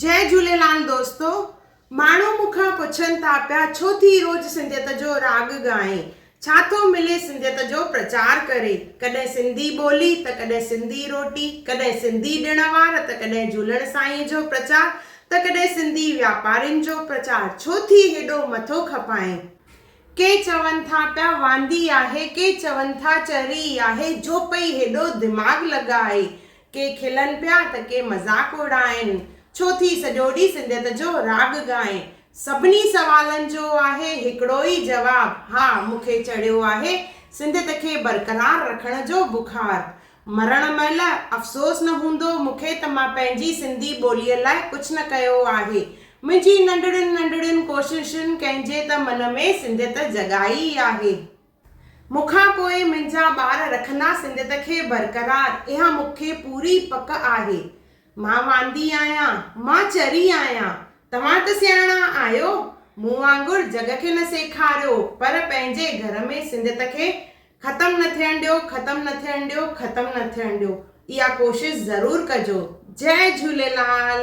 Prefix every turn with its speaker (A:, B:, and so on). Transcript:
A: جئي جهوليلال دوستو ماڻهو مون کان پڇن ٿا پيا ڇو ٿي روز سنڌيت جو راڳ ڳائين ڇا ٿو ملي سنڌيت جو پرچار ڪري ڪڏهن سنڌي ٻولي ته ڪڏهن سنڌي روٽي ڪڏهن سنڌي ڏڻ وار ته ڪڏهن جهولڻ سائين جو پرچار ته ڪڏهن سنڌي واپارين جو پرچار ڇو ٿي هيڏو مٿو کپائين ڪي چون ٿا پيا واندي آهي ڪي چون ٿا چري آهي جو پئي هيڏو دماغ لڳائي ڪي کلن پيا ته ڪي مذاق اڙائين. ڇو ٿي سڄو ڏينهن سنڌيت جو راڳ ڳائين. سڀني سوالن جو آهي هڪڙو ئي جواب، ها مون کي چڙهيو آهي سنڌيت کي برقرار رکڻ جو بخار. مرڻ مهل افسوس نه هوندو مون کي ته مان پنهنجي سنڌي ٻوليء لاء ڪجهه نه ڪيو آهي. منهنجي ننڍڙين ننڍڙين ڪوششن ڪنهن جي ته من ۾ سنڌيت جڳائي آهي. مون کان پوء منهنجا ٻار رکندا سنڌيت کي برقرار، اها مون کي پوري پڪ آهي. مان واندي آهيان، مان چري آهيان، توهان ته سياڻا آهيو، مون وانگر جڳ کي نه سيکاريو، پر پنهنجي گهر ۾ سنڌيت کي ختم نه ٿيڻ ڏيو، ختم نه ٿيڻ ڏيو، ختم نه ٿيڻ ڏيو، اها ڪوشش ضرور ڪجو. جئي جهوليلال.